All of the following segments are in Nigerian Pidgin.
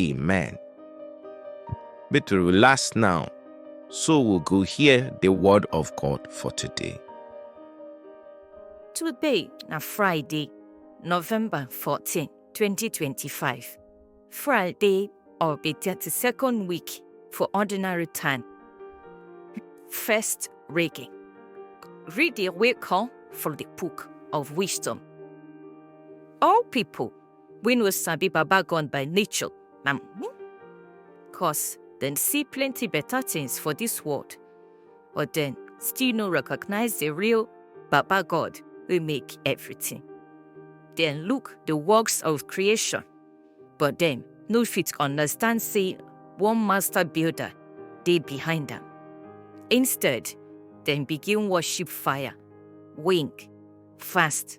Amen. But we last now, so we'll go hear the word of God for today. Today, na Friday, November 14, 2025. Friday or be 32nd week for ordinary time. First reading. Read the wake call from the book of wisdom. All people wey no sabi baba gun by nature na me cause dem see plenty better things for this world but dem still no recognize the real baba god wey make everything dem look the works of creation but dem no fit understand say one master builder dey behind am instead dem begin worship fire wink fast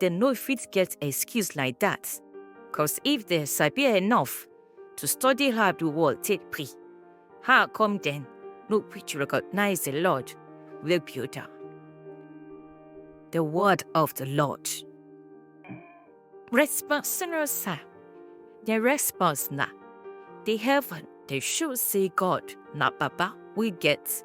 dem no fit get excuse like that cause if dem sabi enough to study how the world take be how come dem no fit recognize the lord wey build am the word of the lord response senior sir the response na the heaven dey show say god na baba wey get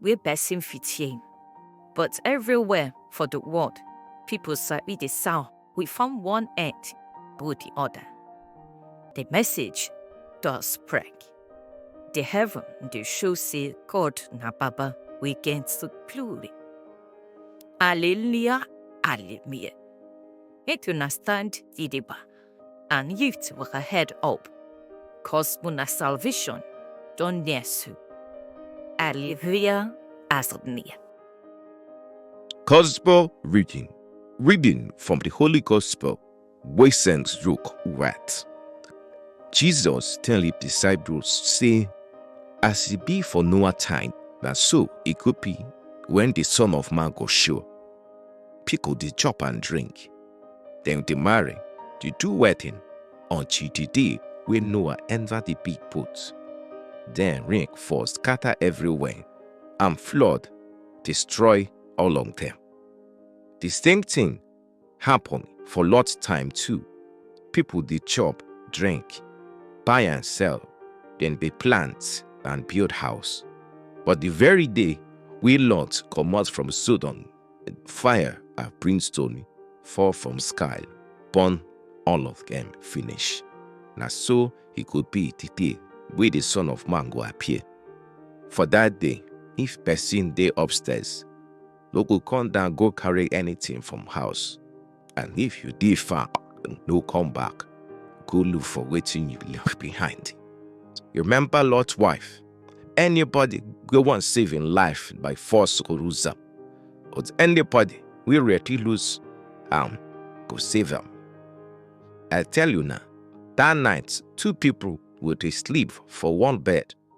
wey person fit hear. But everywhere for the world, people sabi the sound wey from one end go the other. The message don spread. The heaven dey show say God na Baba wey get glory. Hallelujah, hallelujah. Make una stand gidigba. and yift with her head up, cause una salvation don near soon. Alleluia, as it near. Gospel reading. Reading from the Holy Gospel, wey St. Luke write. Jesus tell his disciples, say, As it be for Noah time, na so it could be when the Son of Man go show. People dey chop and drink, Then they marry, they do wedding until the day wey Noah enter the big boat. Then rain fall scatter everywhere and flood destroy all of them. The same thing happen for Lot time too. People dey chop, drink, buy and sell, then dey plant and build house. But the very day wey Lot comot from Sodom fire and brimstone fall from sky burn all of them finish na so e go be the day wey the son of man go appear for that day if person dey upstairs no go come down go carry anything from house And if you dey far, no come back. Go look for wetin you left behind. You remember Lot's wife? Anybody wey wan save im life by force go lose am. But anybody wey ready lose am go save am. I tell you na, that night two people go dey sleep for one bed.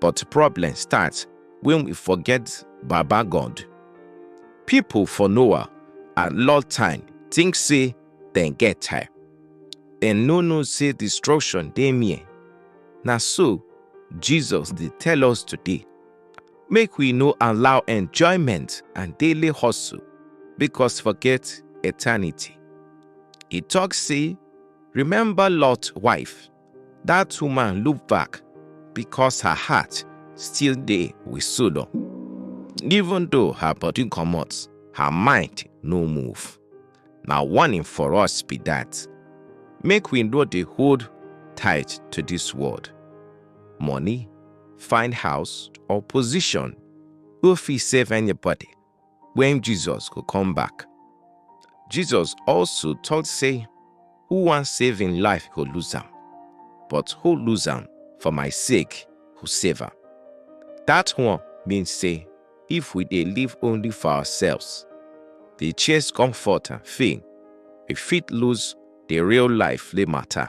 But problem start when we forget Baba God. People for Noah and Lot time think say dem get time. Dem no know say destruction dey near. Na so Jesus dey tell us today. Make we no allow enjoyment and daily hustle because forget eternity. He talk say, remember Lot wife That woman look back because her heart still dey with Sodom. Even though her body comot, her mind no move. Na warning for us be that. Make we no dey hold tight to this world. Money, fine house, or position no fit save anybody when Jesus go come back. Jesus also talk say, who wan save im life go lose am, but who lose am for my sake go save am. That one mean say if we dey live only for ourselves, dey chase comfort and fame, we fit lose the real life wey matter.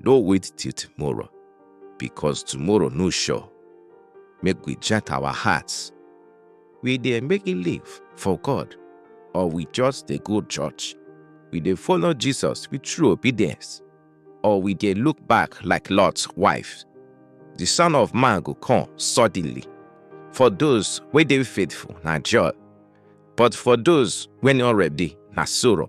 No wait till tomorrow, because tomorrow no sure. Make we jet our hearts. We dey make it live for God, or we just dey go church. We dey follow Jesus with true obedience, or we dey look back like Lot's wife. The Son of Man go come suddenly. For those wey dey faithful na joy, but for those wey no ready na sorrow.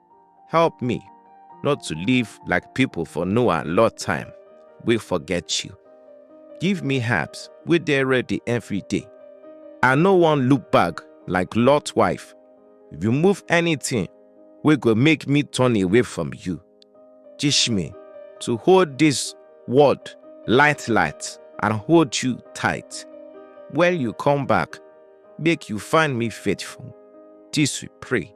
Help me not to live like people for Noah and Lot time, we forget you. Give me herbs we dey ready every day. I no wan look back like Lot wife. Remove anything wey go make me turn away from you. Teach me to hold this word light light and hold you tight. When you come back, make you find me faithful. This we pray.